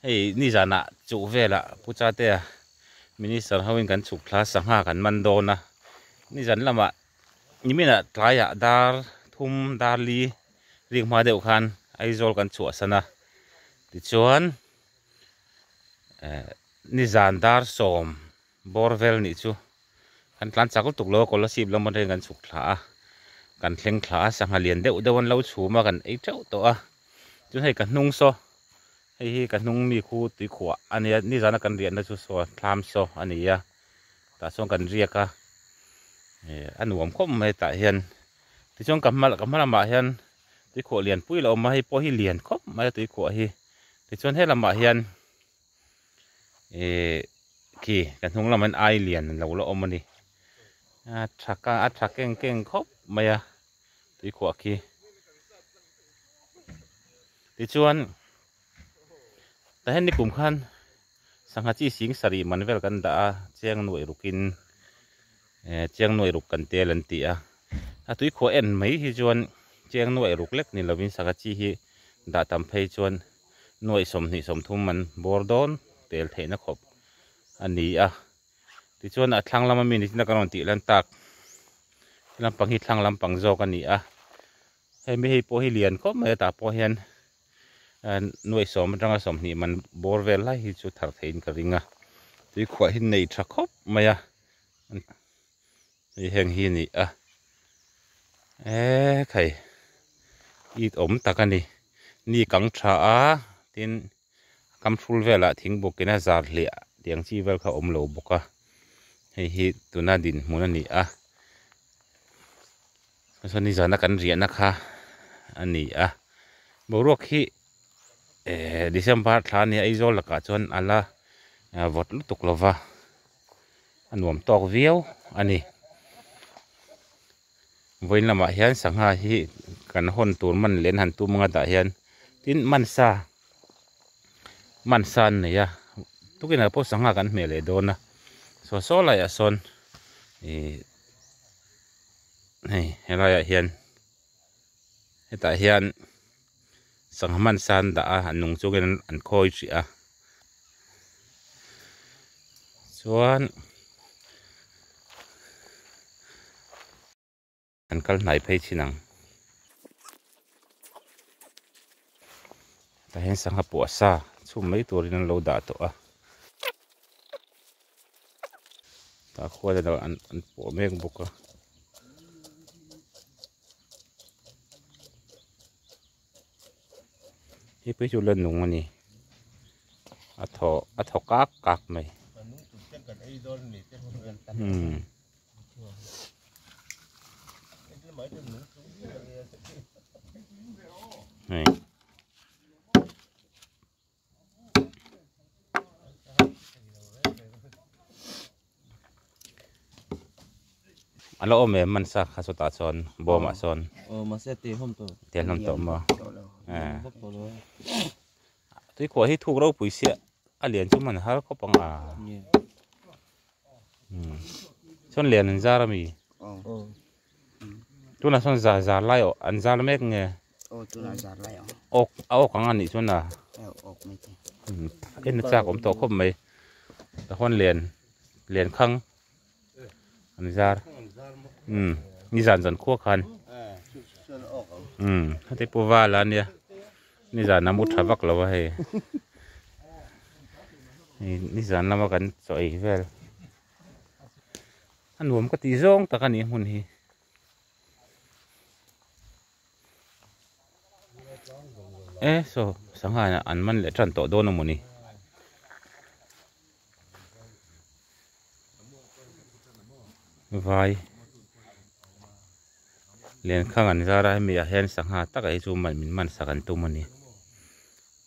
Hei nizanah chuh velah Pu Chatea Minister hoin kan chhuk thla sangha kan man dawn a, nizan lamah nimina tlaiah dar thum dar li rîk hma deuh khan Aizawl kan chhuahsan a, tichuan nizan dar sawm Bawr vel nih chu kan tlan chak lutuk lo a Kolasib lam atangin kan chhuk thla a, kan thleng thla a, sangha lian deuh deuh an lo chhum a, kan ei teuh tawh a, chuan hei ka hnung saw, hei hi ka hnung mi khu Tuikhuah a nia, nizan a kan riahna chu saw thlam saw a nia, tah chuan kan riak a, eh a nuam khawp mai tah hian, tichuan ka hma ka hma lamah hian Tuikhuah lian pui a lo awm a, hei pawh hi lian khawp mai a Tuikhuah hi, tichuan he lamah hian. ih khi ka hnung lamah hian ai lian lo la awm a ni a tha ka a tha keng keng khawp mai a tuikhuah khi tichuan tah hian nikum khan sangha chi sing sarih man vel kan dah a chiang nuaih rukin eh chiang nuaih ruk kan tel an ti a a tuikhuah en mai hi chuan chiang nuaih ruk lek ni lovin sangha chi hi dah tam phei chuan-- nuaih sawmhnih sawmthum an bawr dawn tel theihna khawp a ni a. Tichuan a thlang lama mi ni tina kan rawn tih lan tak he lampang hi thlang lampang zawk a ni a. Hei mi hei pawh hi lian khawp mai a tah pawh hian nuaih sawm atanga sawmhnih man bawr vel lai hi chu thar theihin ka ring a. Tuikhuahin nei tha khawp mai a. Hei heng hi ni a eee khai it awm tak a ni ni kang tha a tin kam hrul velah thing buk in a zar hliah tih ang chi vel kha a awm lo bawk a hei hi tuna dinhmun a ni a hma saw nizan a kan riah na kha a ni a boruak hi ehh December thla a ni a Aizawl lakah chuan a la vawt lutuk lova. a nuam tawk viau a ni. Vawiin lamah hian sangha hi kan hawn tur man leh an han tum anga dah hian tin hmansa hmansa an nei a tukinah pawh sangha kan hmeh leh dawn a saw saw laiah sawn ihh hei helaiah hian hetah hian-- Sangha hmansa an dah a, an nung chungin an khawi hrih a. Chuan an kal hnai phei thin ang. Tahin sangha puahsa chhum mai turin an lo dah tawh a. Tah khuan erawh an puah mek bawk a. Hi pawh hi chu la nung a ni a thaw a thaw kak kak mai umm hei. a la awm em hmansa kha chutah chuan bawmah chuan mahse a teh hlawm tawh a teh hlawm tawh maw tuikhuah hi thuk ropui siah a lian chu hman har khawp anga chuan lian an zar ami. Tunah sawn zar zar lai awh an zar mek nge? Aw tunah zar lai ang. Awk a awk ang anih chuan a. Aw awk mai te. Eng na chak awm tawh khawp mai. Ka hawn len len khang an zar umm ni zan zan khuwa khan. Umm heti pawh va la nia ni zan a mu tha vak lo va hei. Ni zan lama kan chaw ei vel. A nuam ka tih zawng tak a ni hmun hi. E saw sangha ah an man leh tan tawh dawn a maw ni. Vai len khang an zar a hemi ah hian sangha takah hi chu man min man sak an tum a ni.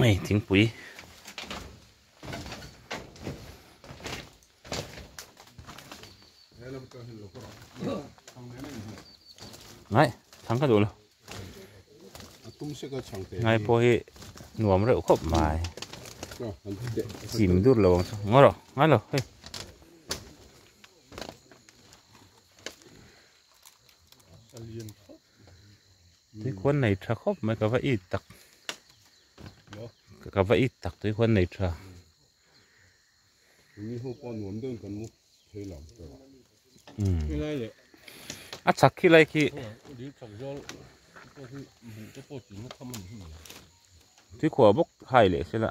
Hei thingpui ngai thang ka dun ngai pawh hi nuam reuh khawp mai chim dur lo ang chu ngaw rawh ngai lo hei tuikhuan nei tha khawp mai ka va it tak ka va it tak tuikhuan nei tha a chak khi lai khi tuikhuah bawk hai leh sela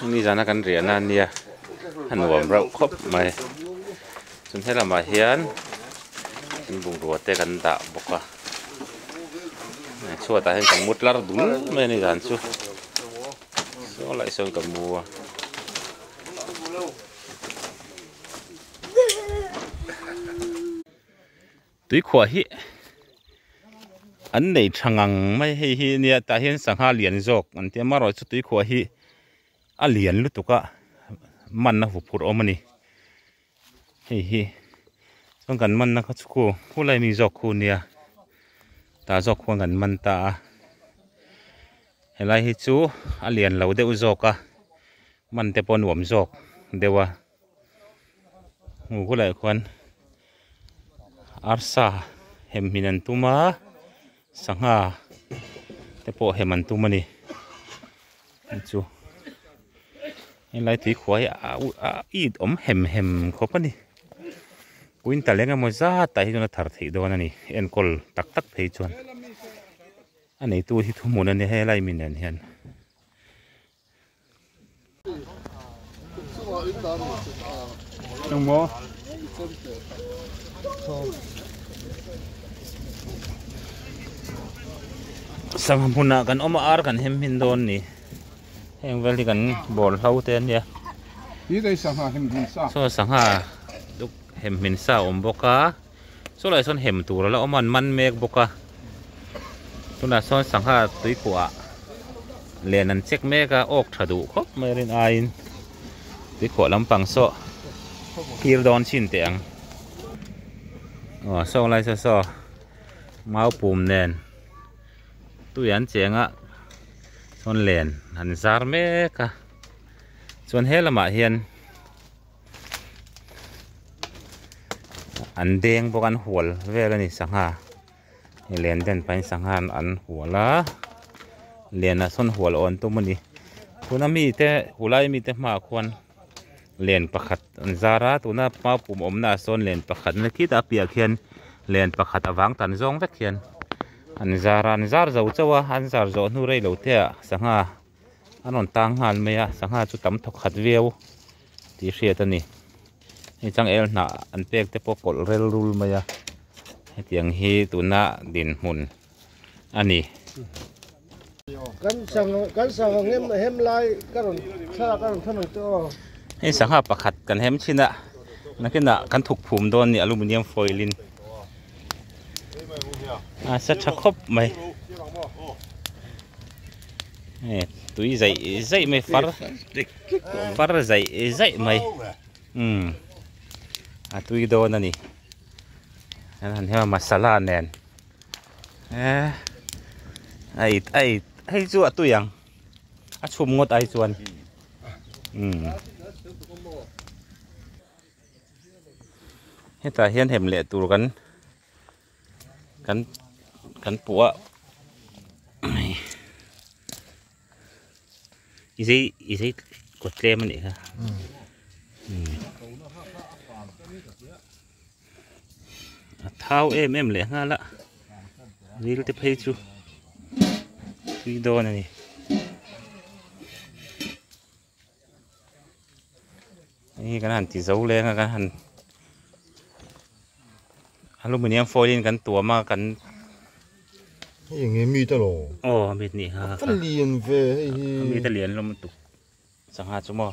Hemi zana kan riah nan nia a nuam rauh khawp mai chuan he lamah hian in bungrua te kan dah bawk a heng chhuatah hian kan mu tlar dul mai a ni dan chu saw lah i sawn ka mu a. Tuikhuah hi an nei tha ngang mai hei hi nia tah hian sangha lian zawk an tia marawh chu tuikhuah hi a lian lutuk a man a vuk phurh awm a ni hei hi chuan kan manna kha chu khu khulai mi zawk khu nia tah zawk khuan kan man ta a helai hi chu a lian lo deuh zawk a man te pawh a nuam zawk deuh a. hmuh hulai khuan arsa hem min an tum a sangha te pawh hem an tum a ni chu helai tui khuah hi a uk a it awm hem hem khawp a ni puin ta leng emaw zat ah hi chuan a thar theih dawn a ni enkawl tak tak phei chuan a neitu hi thuhmun a nia helai mi nen hian. Sangha hmun ah kan awm a ar kan himhim dawn ni. Heng vel hi kan bawr hlo te a nia. Saw sangha duk hemhmin sa a awm bawk a. chulaiah sawn hem tur ala awm a an man mek bawk a tunah sawn sangha tuikuah len an check mek a awk tha duh khawp mai rin aiin tuikhuah lampang saw kir dawn chin teh ang aw sawng lai saw saw mau pum nen tui an cheng a sawn len an zar mek a chuan he lamah hian. an beng bawk an hual vel a ni sangha i len den pahin sangha an an hual a len ah sawn hual a awn tum a ni tuna mi te ulai mi te hmaah khuan len pakhat an zar a tuna maupum awmnaah sawn len pakhat nila khita a piahah khian len pakhat a vang tan zawng vek hian an zar a an zar zo chauh a an zar zawh hnu rei lo te ah sangha-- an rawn tang nghal mai a sangha chu tam tha khat viau tih hriat a ni hei chang el hnah an pek te pawh kawlh rel rul mai a hetiang hi tuna din hmun a ni hei sangha pakhat kan hem chin a nakin ah kan thuk phum dawn a ni aluminium foil in a sa tha khawp mai. tui zai zai mai far far zai zai mai um a tui dawn a ni an han hiam a masala nen eh ai ai hei chu a tui ang a chhum ngawt ai chuan um hetah hian hem leh tur kan kan kan puah a mai izei izei kawt tlem a nih kha a thau em em leh nghal a ril te phei chu tui dawn a ni. Hei hi kan han ti zo leng a kan han aluminium foil in kan tuam a kan hei eng nge meat a lo aw meat ni ha ka lian ve hei hi meat a lian hlawm lutuk chang ha chu maw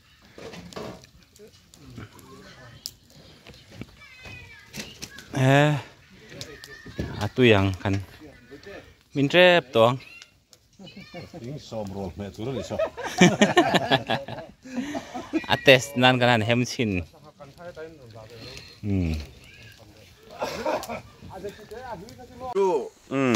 eh a tui ang kan min rep tawh ang in sawm rawl hmeh tur a ni saw a test nan kan han hem chin um um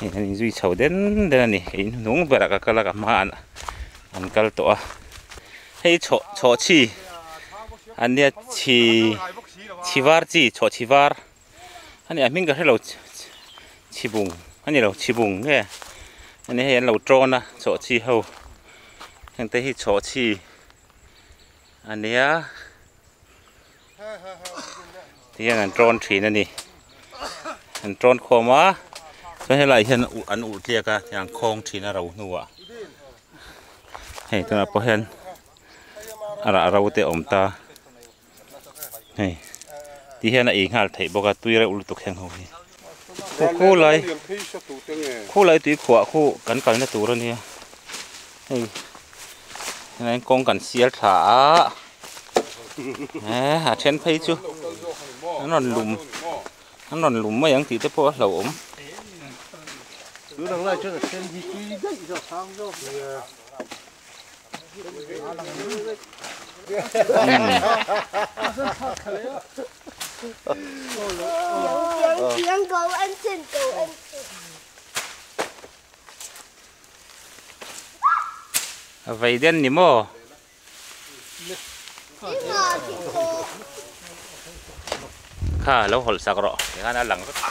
hei an inzui chho den den a ni in hnung berah ka kal a ka hmaah an kal tawh a hei chhawh chhawh chhi an nia chhi chhi var chi chhawh chhi var a ni a hming ka hrelo chhibung a ni lo chhibung nge a ni hei an lo ṭawn a chhawh chhi ho hengte hi chhawh chhi a nia. ti hian an ṭawn ṭhin a ni an ṭawn khawm a chuan helaiah hian an uh tliak a tiang an khawng ṭhin a ro hnuah hei tunah pawh hian a rah ro te a awm ta hei ti hian a ei nghal theih bawk a tui reuh lutuk heng ho hi. Khaw khu lai khu lai tui khuah khu kan kalna tur a nia hei heng kawng kan sial tha a eh a then phei chu an rawn lum an rawn lum mai ang tih te pawh a hlo awm umm Vei den ni maw? Kha lo hawlh sak rawh, tikhan a lang vek a.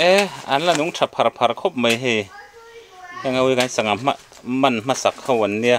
Eh an la nung tha phar phar khawp mai hei heng ho hi kan sangha hman hmasak ho an nia.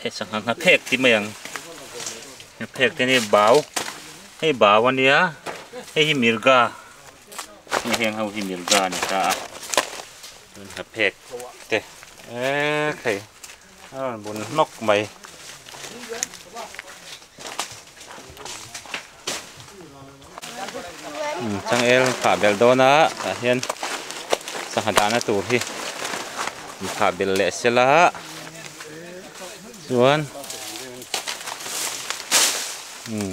Hei sangha ngha phek tih mai ang ngha phek te nen bau hei bau a nia hei hi mirga hei heng ho hi mirga a ni ta a chuan ngha phek te eee hei a rawn bun hnawk mai. Changel khah bel dawn a tah hian sangha dahna tur hi an khah bel leh sel a chuan umm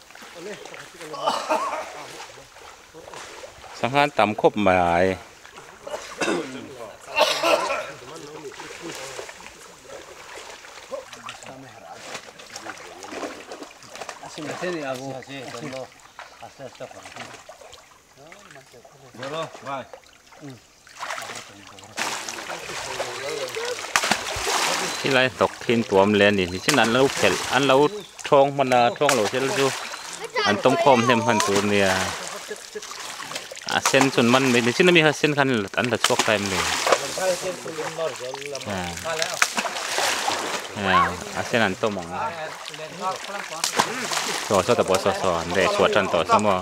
Sangha an tam khawp mai a e. Bye. He lai hnawk thin tuam leh a nih hmel chin an lo phelh an lo thawng hman a thawng loh zel chu an tawm khawm hnem hman tur a nia a sen chu an man mai ni chin a mi kha sen khan an la chhuak ta em ni a sen an tawm ang so so ta pawh so so an reh chhuah tan tawh sa maw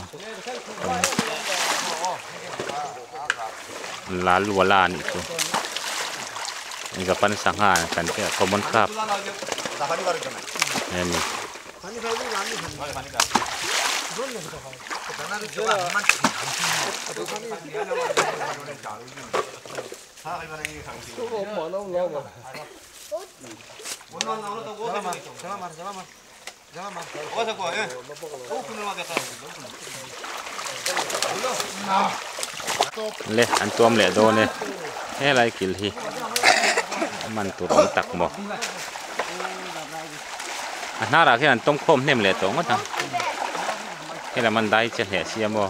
Lal wala a nih chu Japan sangha an kan tih a common craft a ni. le an tuam leh dawn e helai kil hi man tur awm tak maw a hnar ah khian an tawm khawm hnem leh tawh ngawt ang helaman dai che hle sia maw.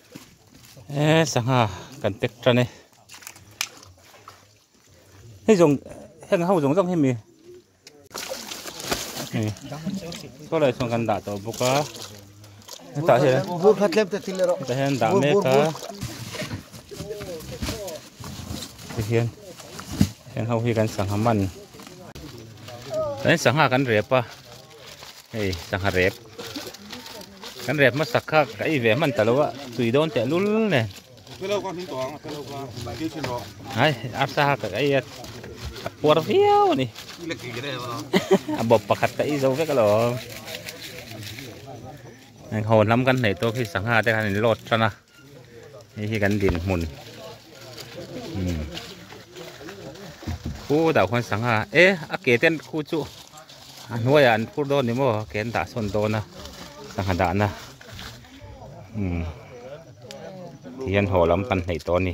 he sangha kan pek tan e hei zawng heng ho zawng zawng hi mi ni saw lai sawn kan dah tawh bawk a hetah hian hetah hian dah mek a hei hian heng ho hi kan sangha man kan sangha kan rep a. Hei sangha rep kan rep hmasak kha ka ei ve hman ta lo a tui dawn teh lul nen Hello ka hming tawh ang hello ka kil thin rawh hai arsa ha ka ei a a puar viau ni le ki re lo a bop pakhat ka ei zo vek lo hon lam kan nei tawk hi sangha te kan in load tan a Hei hi kan dinhmun umm khu deuh khawn sangha e a ke ten khu chu a hnuaiah an phur dawn ni maw a ke an dah sawn dawn a sangha dahna umm thian haw lam kan hnaih tawh a ni.